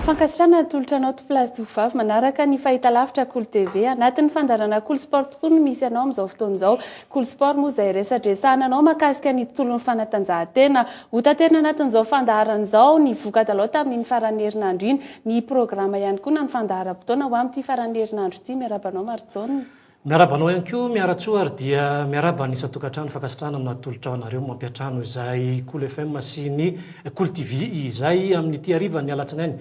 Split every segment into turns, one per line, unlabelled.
Fankasitrahana atolotra anao Toplazy Tovovavy manaraka ny fahitalavitra Kolo TV. Anatin'ny fandaharana Kolo Sport tokoa no misy anao amin'izao fotoana izao. Kolo Sport moa izay resadresahana anao mahakasika ny tontolon'ny fanatanjahantena. Hotaterina anatin'izao fandaharana izao ny voka-dalao tamin'iny faran'ny herinandro iny. Ny programa ihany koa na ny fandaharam-potoana ho amin'ity faran'ny herinandro ity. Miarahaba anao Marijaona. Miarahaba anao ihany koa
Miaratsoa ary dia miarahaba ny isan-tokantrano. Fankasitrahana no natolotra ho anareo mampiantrano izay Kolo FM sy ny Kolo TV izay amin'ity harivan'ny alatsinainy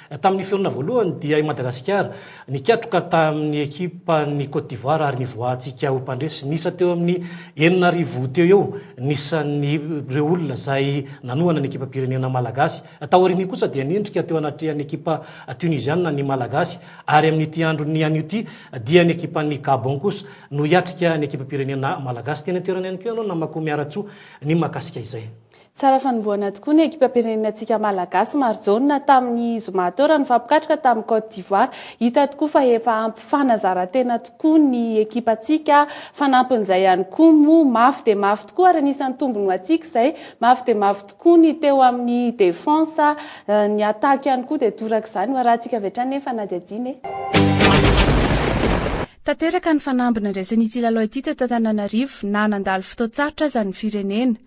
Tamin'ny fihorina voalohany dia i Madagasikara nikatroka tamin'ny ekipan'i Côte d'Ivoire ary nivoahantsika ho mpandresy. Niisa teo amin'ny enina arivo teo eo ny isan'ireo olona izay nanohana ny ekipam-pirenena malagasy. Taorian'io kosa dia nendrika teo anatrehan'ny ekipa Tuniziana ny Malagasy ary amin'ity andron'ny anio ity dia ny ekipan'i Gabon kosa no hiatrika ny ekipam-pirenena malagasy. Teny an-toerana ihany koa ianao namako Miaratsoa ny mahakasika izay. Tsara fanombohana
tokoa ny ekipam-pirenenantsika Malagasy, Marijaona, tamin'ny zoma teo raha nifampikatroka tamin'i Côte d'Ivoire. Hita tokoa fa efa ampy fanazarantena tokoa ny ekipantsika. Fanampin'izay ihany koa moa, mafy dia mafy tokoa ary anisan'ny tombony ho antsika izay. Mafy dia mafy tokoa ny teo amin'ny defense, ny attaque ihany koa dia toraka izany. Ho arahantsika avy hatrany ny fanadihadiana e! Tanteraka ny fanamby nandraisan'ity lalao ity teto Antananarivo na nandalo fotoan-tsarotra aza ny firenena.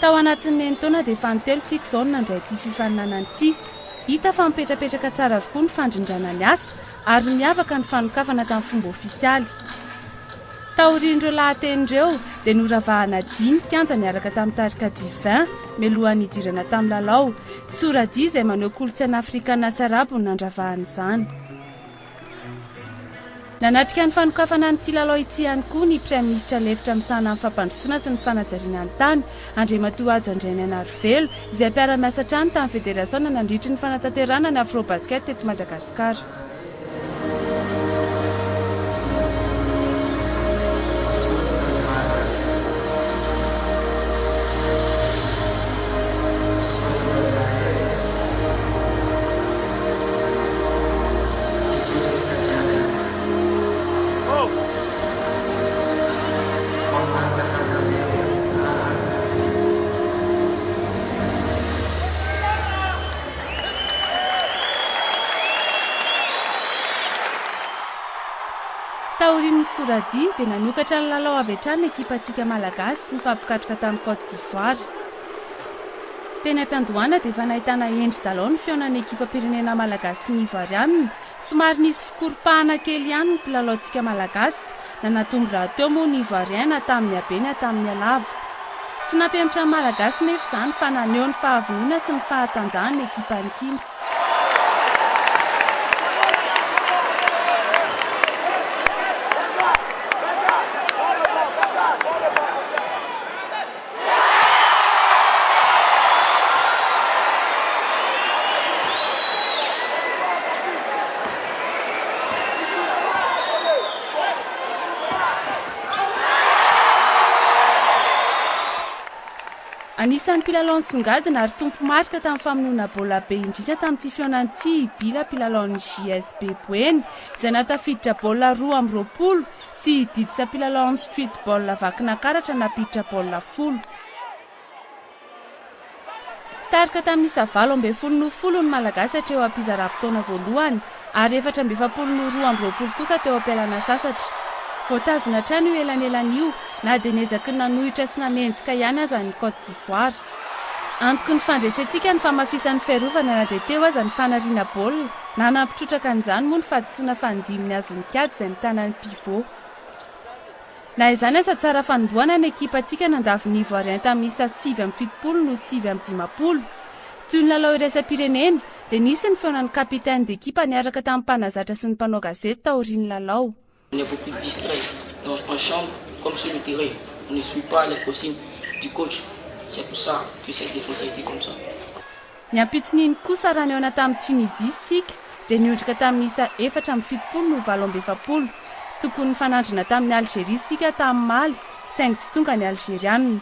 Tao anatin'ny enin-taona dia fanin-telo isika izao no nandray ity fifaninanana ity. Hita fa mipetrapetraka tsara avokoa ny fandrindrana ny asa ary miavaka ny fanokafana tamin'ny fomba ofisialy. Taorian'ireo lahateny ireo dia noravahana dihy ny kianja niaraka tamin'ny tarika Divin mialohan'ny hidirana tamin'ny lalao. Sora-dihy izay maneho kolontsaina afrikana sy arabo no nandravahana izany. Nanatrika ny fanokafana an'ity lalao ity ihany koa ny Praiminisitra lefitra misahana ny fampandrosoana sy ny fanajariana ny tany, Andriamatoa Hajo Andrianainarivelo, izay mpiara-miasa hatrany tamin'ny federasaona nandritry ny fanatanterahana ny Afrobasket teto Madagasikara. Taorian'ny soradihy dia nanokatra ny lalao avy hatrany ny ekipantsika Malagasy sy ny mpampikatroka tany Côte d'Ivoire. Teny am-piandohana dia efa nahitana endry dalao ny fihaonan'ny ekipam-pirenena malagasy sy ny Ivoarianina. Somary nisy fikoropahana kely ihany ny mpilalaontsika malagasy. Nanatombo rahateo moa ny Ivoariaina tamin'ny habe ny hatramin'ny halava. Tsy nampihemotra ny Malagasy nefa izany fa naneho ny fahavonona sy ny fahatanjahany ny ekipan'i Kims. Anisan'ny mpilalao nisongadina ary tompo marika tamin'ny famonoana baolina be indrindra tamin'ity fihaonana ity i Bila mpilalaon'ny JSB Boeny izay nahatafiditra baolina roa amby roapolo Tsy didisa mpilalao amin'ny streetball vakina karatra nampiditra baolina folo. Tarika tamin'ny isa valo ambin'ny folo noho folo ny Malagasy hatreo am-pizaram-potoana voalohany ary efatra amby efapolo noho roa amby roapolo kosa teo am-pialana sasatra. Voatazona hatrany io elanelana io na dia niezaky ny nanohitra sy nanenjika ihany aza ny Côte d'Ivoire. Antoky ny fandresentsika ny famafisan'ny fiarovana na dia teo aza ny fanariana baolina na nampitrotraka an'izany moa ny fahadisoana fa ndim ny azon'ny kiady izay mitana ny pivot. Na izany aza tsara fanombohana ny ekipantsika nandavo ny Ivoiriens tamin'ny isa sivy amby fitopolo no sivy amby dimampolo. Toy ny lalao iraisam-pirenena dia nisy ny feonan'ny capitaine d'equipe niaraka tamin'ny mpanazatra sy ny mpanao gazety taorian'ny lalao. On est beaucoup
distrait dans en chambre comme sur le terrain on ne suit pas les consignes du coach c'est pour ça que cette défense a été comme ça. Ny
ampitson'iny kosa raha nihaona tamin'i Tunisie isika dia niondrika tamin'ny isa efatra amby fitopolo no valo amby efapolo. Tokony nifanandrina tamin'i Algerie isika tamin'ny maly saingy tsy tonga ny Algeriana.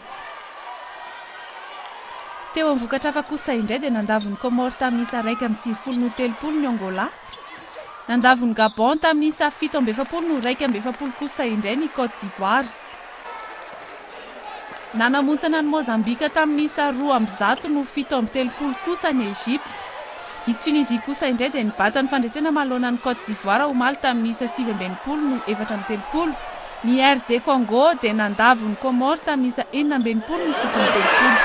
Teo amin'ny vokatra hafa kosa indray dia nandavo ny Comores tamin'ny isa iraika amby sivifolo noho telopolo ny Angola. Nandavo ny Gabon tamin'ny isa fito amby efapolo no iraika amby efapolo kosa indray ny Côte d'Ivoire. Nanamontsana an'i Mozambika tamin'ny isa roa amby zato no fito amby telopolo kosa ny Egypte. I Tunisie kosa indray dia nibata ny fandresena manoloana an'i Côte d'Ivoire omaly tamin'ny isa sivy amby enimpolo no efatra amby telopolo Ny RD Congo dia nandavo ny Comores tamin'ny isa enina amby enimpolo ny fito amby telopolo.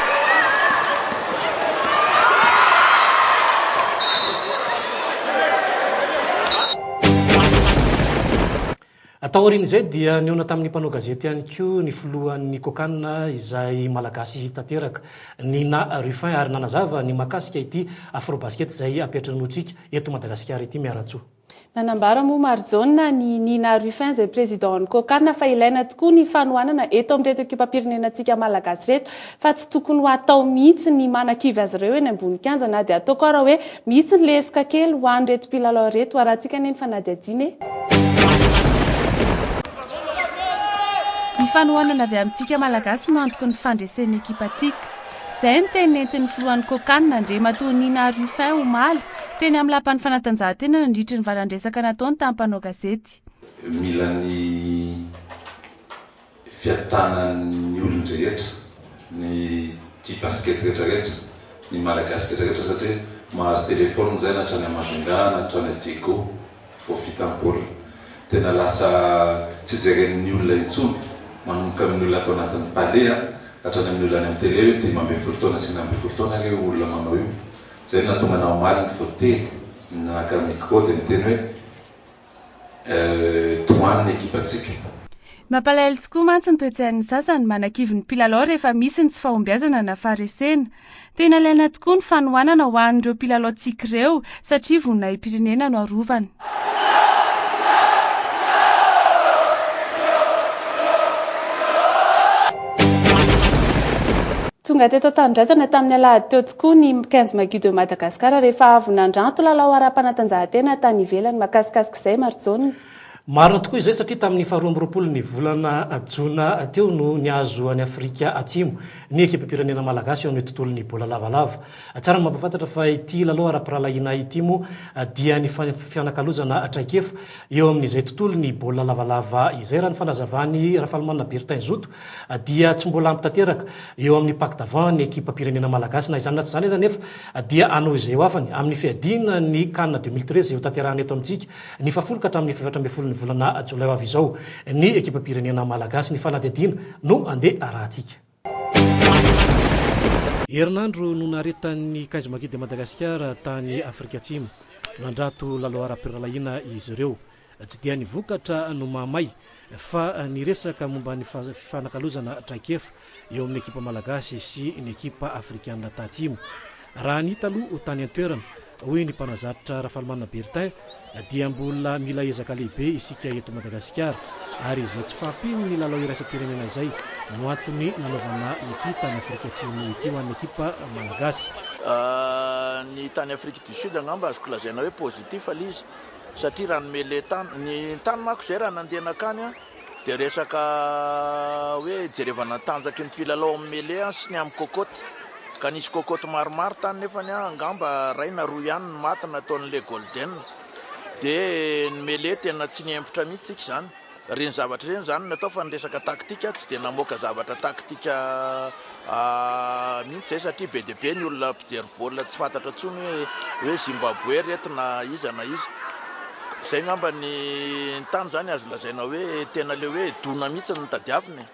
Tao aorian'izay dia nihaona tamin'ny mpanao gazety ihany koa ny filohan'ny Cocana izay Malagasy tanteraka, Nina Ruffin ary nanazava ny mahakasika ity Afrobasket izay ampiantranointsika eto Madagasikara ity Miaratsoa. Nanambara moa
Marijaona ny Nina Ruffin izay Président an'ny Cocana fa ilaina tokoa ny fanohanana eto amin'ireto ekipam-pirenenantsika Malagasy ireto fa tsy tokony ho atao mihitsy ny manakivy azy ireo eny ambony kianja na dia ataoko ara hoe misy ny lesoka kely ho an'ireto mpilalao ireto harahantsika anie ny fanadihadiana e. Ny fanohanana avy amintsika Malagasy no antoky ny fandresen'ny ekipantsika. Izay ny teny nentin'ny filohan'ny Cocan, Andriamatoa Nina Ruffin, omaly, teny amin'ny lapan'ny fanatanjahantena nandritry ny valan-dresaka nataony tamin'ny mpanao gazety. Mila ny
fiatanan'ny olon-drehetra, ny tia basket rehetra rehetra, ny Malagasy rehetra rehetra satria mahazo téléphone izay na hatrany à Majunga na hatrany à Diego. Vao vita ny baolina tena lasa tsy jeren'ny olona intsony, manomboka amin'ny olona ato anatin'ny Palais an, hatrany amin'ny olona any amin'ny tele hoe dimy ambin'ny folo taona sy enina ambin'ny folo taona re io olona manao io. Zay no nahatonga anah omaly ny vao telo naka micro dia niteny hoe euh tohano ny ekipantsika. Mampalahelo
tokoa mantsy ny toe-tsain'ny sasany, manakivy ny mpilalao rehefa misy ny tsy fahombiazana na faharesena. Tena ilaina tokoa ny fanohanana ho an'ireo mpilalaontsika ireo satria voninahi-pirenena no arovana. Tonga teto an-tanindrazana tamin'ny alahady teo tokoa ny 15 Maggio de Madagascar rehefa avy nandranto lalao ara-panatanjahantena tany ivelany. Makasikasika izay Marijaona. Marina tokoa izay
satria tamin'ny faharoa amby roapolo ny volana jona teo no nihazo an'i Afrika Atsimo ny ekipam-pirenena malagasy eo amin'ny tontolon'ny baolina lavalava. Tsara ny mampahafantatra fa ity lalao ara-pirahalahiana ity moa dia nifanipy fianakalozana traikefa eo amin'izay tontolon'ny baolina lavalava izay. Raha ny fanazavan'i Rafalimanana Bertin Zoto dia tsy mbola ampy tanteraka eo amin'ny pack d'avant ny ekipam-pirenena malagasy. Na izany na tsy izany aza anefa dia hanao izay ho afany amin'ny fiadiana ny Can deux mille treize hotanterahina eto amintsika. Ny fahafolo ka hatramin'ny fahefatra ambin'ny folon'ny volana jolay ho avy izao, ny ekipam-pirenena malagasy, ny fanadihadiana no handeha arahantsika. Herinandro no naharetan'ny Kaiz Magid de Madagascar tany Afrika Atsimo. Nandrato lalao ara-pirahalahiana izy ireo. Tsy dia ny vokatra no mahamay fa niresaka momba ny fifanakalozana traikefa eo amin'ny ekipa malagasy sy ny ekipa afrikanina tatsimo. Raha ny hita aloha tany an-toerana, hoy ny mpanazatra Rafalimanana Bertin, dia mbola mila ezaka lehibe isika eto Madagasikara ary izay tsy fahampian'ny lalao iraisam-pirenena izay no antony nanaovana ity tany Afrika Atsimo ity ho an'ny ekipa malagasy.
Ny tany Afrique du Sud angamba azoko lazaina hoe positif aloha izy satria raha nomele tany, ny tany manko izay raha nandeha nankany an, dia resaka hoe hijerevana ny tanjaky ny mpilalao amin'ny mele sy ny amin'ny cocotte, ka nisy cocotte maromaro tany nefany an, angamba iray na roa ihany no maty nataon'ilay golden, dia ny mele tena tsy nihemotra mihitsy tsika izany. Ireny zavatra ireny izany no atao fa ny resaka taktika tsy dia namoaka zavatra taktika mihitsy izay satria be dia be ny olona mpijery baolina tsy fantatra intsony hoe hoe Zimbabwe ry reto na iza na iza. Izay angamba ny tany izany azo lazaina hoe tena ilay hoe dona mihitsy no notadiavina e.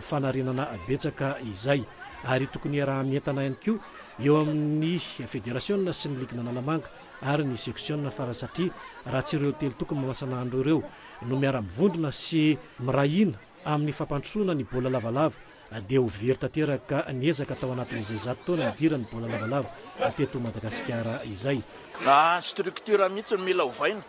fanarenana betsaka izay ary tokony hiaraha-mientana ihany koa eo amin'ny federasiona sy ny ligin'Analamanga ary ny seksiona farany satria raha tsy ireo telo toko mamasan'andro ireo no miara-mivondrona sy miray hina amin'ny fampandrosoana ny baolina lavalava dia ho very tanteraka ny ezaka tao anatin'izay zato taona nidiran'ny baolina lavalava teto Madagasikara izay. Na structure
mihitsy no mila ovaina.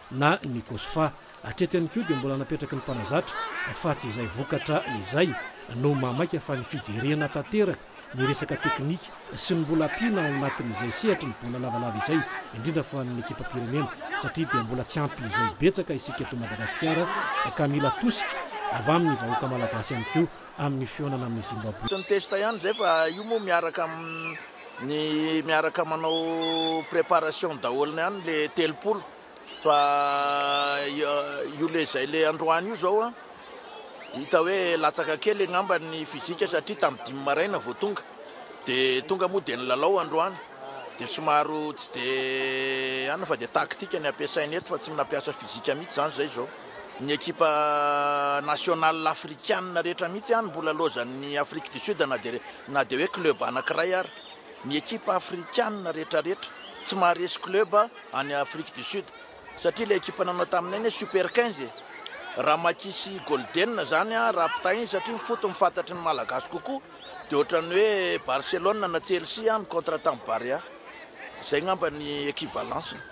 na ny Kosfa. Hatreto ihany koa dia mbola napetraky ny mpanazatra fa tsy izay vokatra izay no maha maika fa ny fijerena tanteraka ny resaka teknika sy ny mbola ampiana ao anatin'izay sehatry ny baolina lavalava izay indrindra fa ny ekipam-pirenena satria dia mbola tsy ampy izay betsaka isika eto Madagasikara ka mila tosika avy amin'ny vahoaka malagasy ihany koa amin'ny fihaonana amin'ny Zimbaboe. Tsy ny test ihany izay fa
io moa miaraka amin'ny ny miaraka manao préparation daholo ihany le telopolo fa io le zay le androany io zao an hita hoe latsaka kely angamba ny fizika satria tamin'ny dimy maraina vao tonga de tonga moa de ny lalao androany de somaro tsy de anna fa de tactique ny ampiasaina eto fa tsy nampiasa fizika mihitsy zany zay zao Ny ekipa national afrikanina rehetra mihitsy any mbola laozan'ny Afrique du Sud na dia na dia hoe club anankiray ary. Ny ekipa afrikanina rehetrarehetra tsy maharesy club any Afrique du Sud satria ilay ekipa nanao taminay anie super 15 e! Raha Makisy Golden izany raha mpitainy satria ny foot mifantatry ny Malagasy kokoa dia ohatran'ny hoe Barcelone na Chelsea ny contrat tamin'ny Barea. Izay angamba ny equivalence-ny.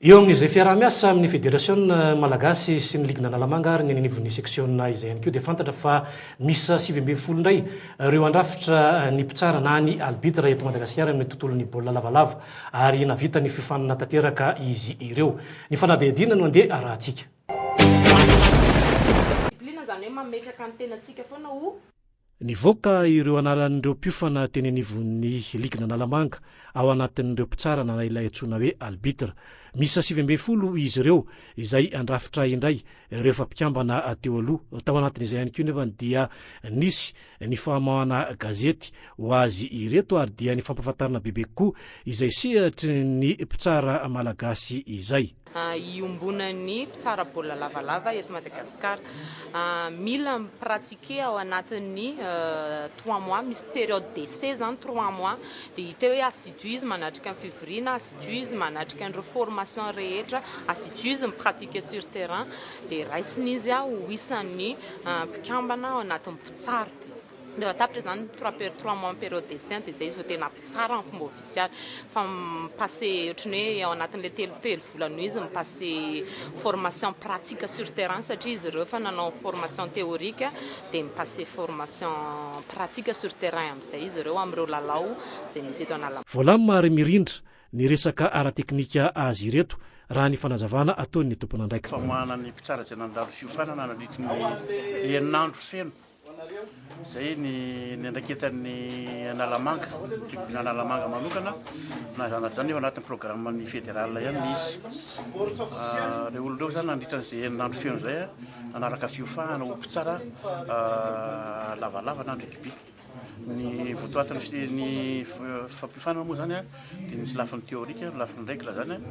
Eo amin'izay fiaraha-miasa amin'ny Federasiona malagasy sy ny Ligy Analamanga ary ny eny anivon'ny seksiona izay ihany koa dia fantatra fa miisa sivy ambin'ny folo indray ireo handrafitra ny mpitsara na ny albitra eto Madagasikara amin'ny tontolon'ny baolina lavalava ary nahavita ny fiofanana tanteraka izy ireo. Ny fanadihadiana no andeha arahantsika. Discipline izany hoe mametraka ny tenantsika foana ho. Nivoaka ireo anaran'ireo mpiofana teny anivon'ny ligin'Analamanga ao anatin'ireo mpitsara nana ilay antsoina hoe albitre. Miisa sivy ambin'ny folo izy ireo izay handrafitra indray ireo efa mpikambana teo aloha. Tao anatin'izay ihany koa nefa dia nisy ny famoahana gazety ho azy ireto ary dia ny fampahafantarana bebe kokoa izay sehatry ny mpitsara malagasy izay. iombonan'ny
mpitsara baolina lavalava eto Madagasikara. Mila mi-pratiquer ao anatin'ny trois mois, misy période d'essai zany trois mois, dia hita hoe assiduise manatrika ny fivoriana, assiduise manatrika an'ireo formation rehetra, assiduise mi-pratiquer sur terrain, dia raisina izy ho isan'ny mpikambana ao anatin'ny mpitsara. Rehefa tapitra izany ny trois per trois mois ny période d'essai dia izay izy vao tena mpitsara amin'ny fomba ofisialy. Fa mi-passer ohatran'ny hoe ao anatin'ilay telo telo volana eo izy mi-passer formation pratique sur terrain satria izy ireo efa nanao formation théorique dia mi-passer formation pratique sur terrain amin'izay izy ireo amin'ireo lalao izay misy eto Analamanga. Voalamina ary mirindra
ny resaka ara-teknika azy ireto raha ny fanazavana ataon'ny tompon'andraikitra. Famahana ny mpitsara izay
nandalo fiofanana nandritry ny enina andro feno. Izay ny niandraiketan'ny Analamanga, tribunal Analamanga manokana, na izany na izany nefa anatin'ny programan'ny federal ihany ilay izy. Ireo olona ireo izany nandritra an'izay herinandro feno izay nanaraka fiofahana ho mpitsara lavalava na an-drikibe. Ny votoatin'ny ny fampiofana moa izany Dia misy lafiny théorique, ny lafiny règle izany an,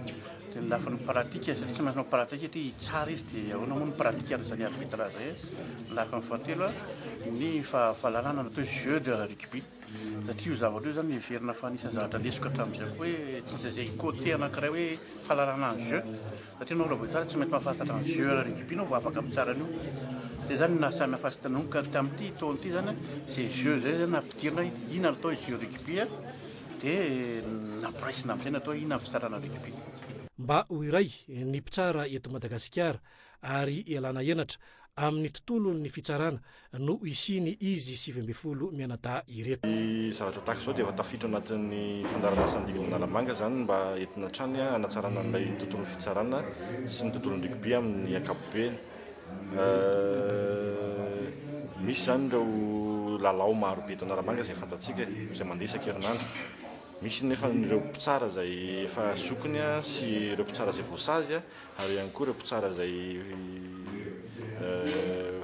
dia ny lafiny pratique satria tsy maintsy manao pratique satria hitsara izy dia ahoana moa ny pratique an'izany arbitrage izay an, ny lafiny fahatelo an, ny faha fahalalana atao hoe jeu de rugby satria io zavatra io izany heverina fa anisan'ny zavatra lesoka hatramin'izay koa hoe tsy misy izay côté anankiray hoe fahalalana an'ny jeu satria ianao raha vao hitsara tsy maintsy mahafantatra ny jeu ara rugby ianao vao afaka mitsara an'io, izay izany no naha samy hafa azy tamin' io ka tamin'ity taona ity izany an izay jeu izay izany no nampidirina hoe inona no atao hoe jeu rugby an. Dia nampiraisina amin'izay natao inona ny fitsarana an'i Wikipedia? Mba
ho iray ny mpitsara eto Madagasikara ary ialana henatra amin'ny tontolon'ny fitsarana no hisiany izy sivy ambin'ny folo mianadahy ireto. Ny zavatra tahaka izao
dia efa tafiditra ao anatin'ny fandaharanasan'ny Divin'ny Analamanga izany mba entina hatrany hanatsarana an'ilay tontolon'ny fitsarana sy ny tontolon'ny rugby amin'ny ankapobeny. Misy izany ireo lalao maro be eto Analamanga izay fantatsika e, izay mandeha isan-kerinandro. Misy nefa ireo mpitsara izay efa zokiny sy ireo mpitsara izay voasazy ary ihany koa ireo mpitsara izay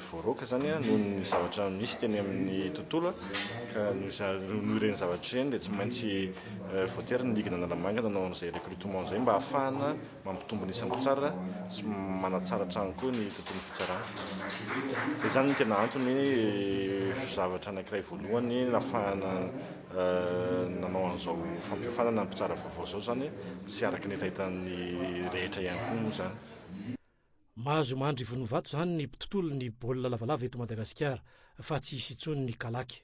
voaroaka izany noho ny zavatra misy teny amin'ny tontolo ka noho ireny zavatra ireny dia tsy maintsy voatery ny ligue an'Analamanga nanao an'izay recrutement izay mba hahafahana Mampitombo ny isan-mpitsara sy manatsara hatrany koa ny tontolon'ny fitsarana. Dia izany no tena antony hoe zavatra anankiray voalohany nahafahana nanao an'izao fampiofanana ny mpitsara vaovao izao izany sy araka ny hetahetan'ny rehetra ihany koa moa izany.
Mahazo mandry vonovato izany ny mpitontolo ny baolina lavalava eto Madagasikara fa tsy hisy intsony ny kalaky.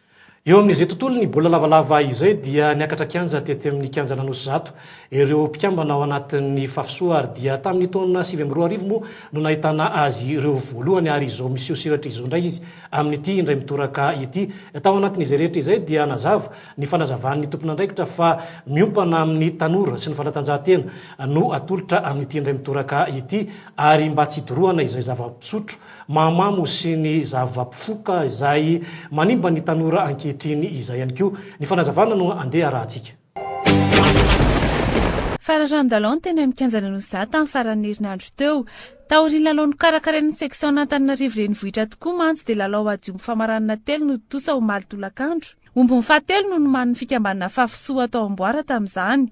Eo amin'izay tontolon'ny baolina lavalava izay dia niakatra kianja tety amin'ny kianjan'Anosizato ireo mpikambana ao anatin'ny Fafisoa ary dia tamin'ny taona sivy amby roa arivo moa no nahitana azy ireo voalohany ary izao miseho sehatra izao indray izy amin'ity indray mitoraka ity. Tao anatin'izay rehetra izay dia nazava ny fanazavan'ny tompon'andraikitra fa miompana amin'ny tanora sy ny fanatanjahantena no atolotra amin'ity indray mitoraka ity ary mba tsy hidorohana izay zava-pisotro mahamamo sy ny zava-pifoka izay manimba ny tanora ankehitriny izay ihany koa ny fanazavana no andeha arahantsika.
Fararan-dalao ny teny amin'ny kianjan'i Noza tamin'ny faran'ny herinandro teo. Taorian'ny lalao nokarakarain'ny section an'Antananarivo renivohitra tokoa mantsy dia lalao adiombo famaranana telo no tontosa omaly tolakandro. Ombin'ny fahatelo no nomanin'ny fikambanana Fafisoa tao Amboara tamin'izany.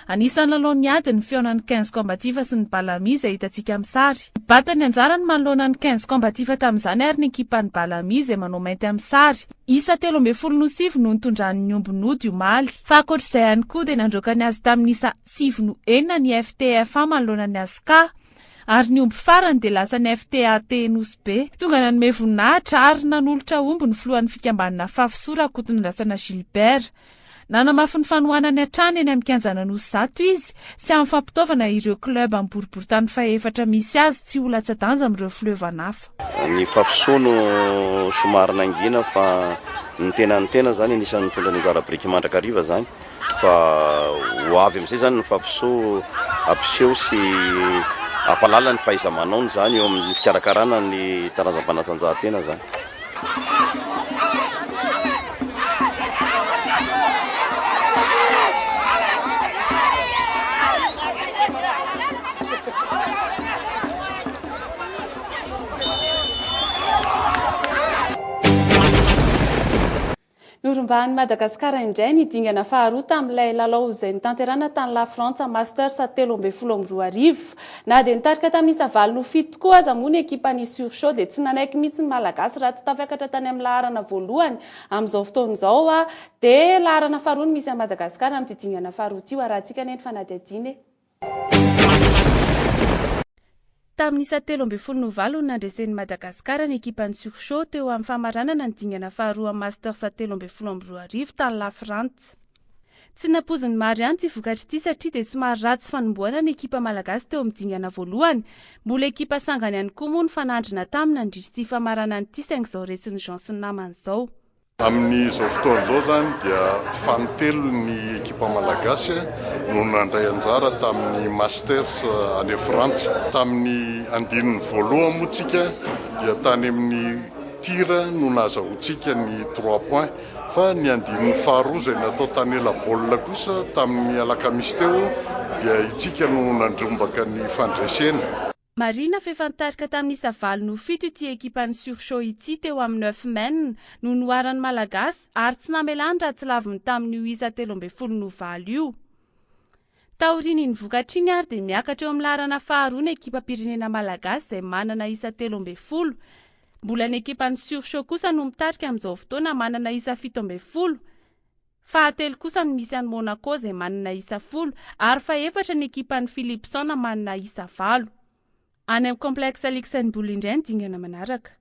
Anisan'ny lalaon'ny ady ny fihaonan'ny quinze combatifs sy ny Balami izay hitantsika amin'ny sary. Nibata ny anjarany manoloana ny quinze combatifs tamin'izany ary ny ekipan'ny Balami izay manao mainty amin'ny sary. Isa telo ambin'ny folo no sivy no nitondran'ny omby nody omaly. Fa ankoatr'izay ihany koa dia nandroaka ny azy tamin'ny isa sivy no enina ny FTFA manoloana ny Asca. ary ny omby farany dia lasan'ny FTAT Nosy Be. Tonga nanome voninahitra ary nanolotra omby ny filohan'ny fikambanana Fafso Rakotonandrasana Gilbert. Nanamafy ny fanohanany hatrany eny amin'ny kianjan'Anosy Zato izy sy amin'ny fampitaovana ireo club amin'ny boriborintany fahefatra misy azy tsy ho latsa-danja amin'ireo fleuve-an'af. Ny fafisoa
no somary nangina fa ny tena ny tena zany anisan'ny nitondra ny anjara biriky mandrakariva zany fa ho avy amin'izay zany ny fafisoa ampiseho sy ampahalala ny fahaiza-manaony zany eo amin'ny fikarakarana ny taranjam-panatanjahantena zany.
Norombahan'i Madagasikara indray ny dingana faharoa tamin'ilay lalao izay notanterahina tany Lafrantsa Masters telo ambin'ny folo amby roa arivo. Na dia nitarika tamin'isa valo no fito tokoa aza moa ny ekipan'ny Sur Chaud dia tsy nanaiky mihitsy ny Malagasy raha tsy tafiakatra tany amin'ny laharana voalohany amin'izao fotoana izao dia laharana faharoa no misy an'i Madagasikara amin'ity dingana faharoa ity. Ho arahantsika anie ny fanadihadiana e! Tamin'ny isa telo ambin'ny folo no valo no nandresen'i Madagasikara ny ekipan'ny Surchaud teo amin'ny famaranana ny dingana faharoa Masters telo ambin'ny folo amby roa arivo tany Lafrantsa. Tsy nampoizin'ny maro ihany ity vokatra ity satria dia somary ratsy fanombohana ny ekipa malagasy teo amin'ny dingana voalohany. Mbola ekipa sangany ihany koa moa no fanandrina taminy nandritra ity famaranana ity saingy izao resin'i Jean sy ny namany izao. Amin'izao
fotoana izao izany dia fanintelony ny ekipa malagasy no nandray anjara tamin'ny Masters any Frantsa. Tamin'ny andininy voalohany moa tsika dia tany amin'ny tir no nahazahoantsika ny trois points fa ny andininy faharoa izay natao tany ela-baolina kosa tamin'ny alakamisy teo dia itsika no nandrombaka ny fandresena. Marihina fa efa
nitarika tamin'isa valo no fito ity ekipan'ny Surchaud ity teo amin'ny neuf men no noharan'ny Malagasy ary tsy namelany raha tsy laviny tamin'io isa telo ambin'ny folo no valo io. Taorian'iny vokatra iny ary dia miakatra eo amin'ny laharana faharoa ny ekipam-pirenena Malagasy izay manana isa telo ambin'ny folo. Mbola ny ekipan'ny Surchaud kosa no mitarika amin'izao fotoana manana isa fito ambin'ny folo. Fahatelo kosa no misy an'i Monaco izay manana isa folo ary fahefatra ny ekipan'i Philipson manana isa valo. Any amin'ny Complexe Luxembourg indray ny dingana manaraka.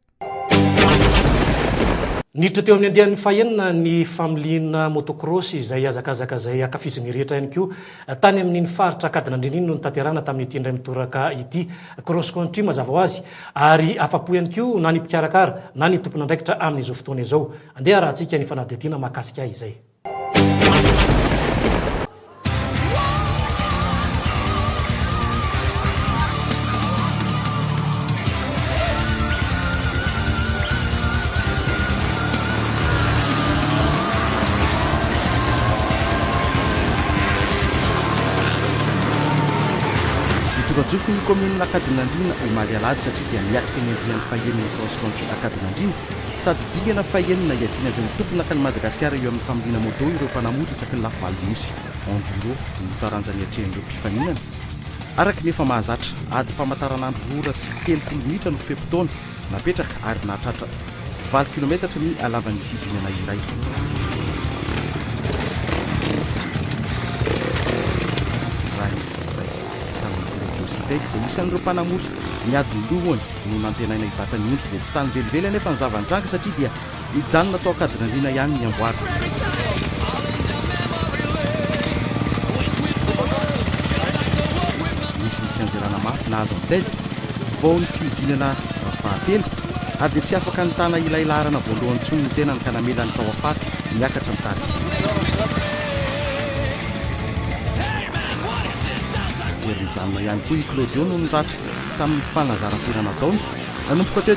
Niditra teo amin'ny andiany fahenina ny familiana motocross izay hazakazaka izay hankafizin'ny rehetra ihany koa. Tany amin'iny faritra Ankadinandriana iny no notanterahana tamin'ity indray mitoraka ity Cross Country mazava ho azy ary afa-po ihany koa na ny mpikarakara na ny tompon'andraikitra amin'izao fotoana izao. Andeha harahantsika ny fanadihadiana mahakasika izay.
Voajofoy ny kaominina Ankadinandriana omaly alahady satria dia miatrika ny andiany fahenina ny cross country Ankadinandriana. Sady dingana fahenina iadiana izay ho tompona ka ny Madagasikara eo amin'ny familiana moto ireo mpanamory isaky ny lafy valon'ny nosy, enduro, no taranja niatrehan'ireo mpifaninana. Araka ny efa mahazatra, adim-pamataranandro roa ora sy telopolo minitra no fe-potoana napetraka ary nahatratra valo kilometatra ny halavan'ny fidinana iray. Raha ny finoana iray tamin'ny Club Ocitec izay isan'ireo mpanamory niady ny lohany, no nantenaina hibata ny ondry dia tsy tany velively anefa ny zava-nitranga satria dia nijanona tao Ankadinandriana ihany ny amboara. Nisy ny fianjerana mafy nahazo an'i Ted vao ny fihodinana fahatelo ary dia tsy afaka nitana ilay laharana voalohany intsony ny tenany ka namelany tao Afate niakatra ny tarika. Mijanona ihany koa i Claudio noho ny ratsy tamin'ny fanazaran-tena nataony nanomboka teo.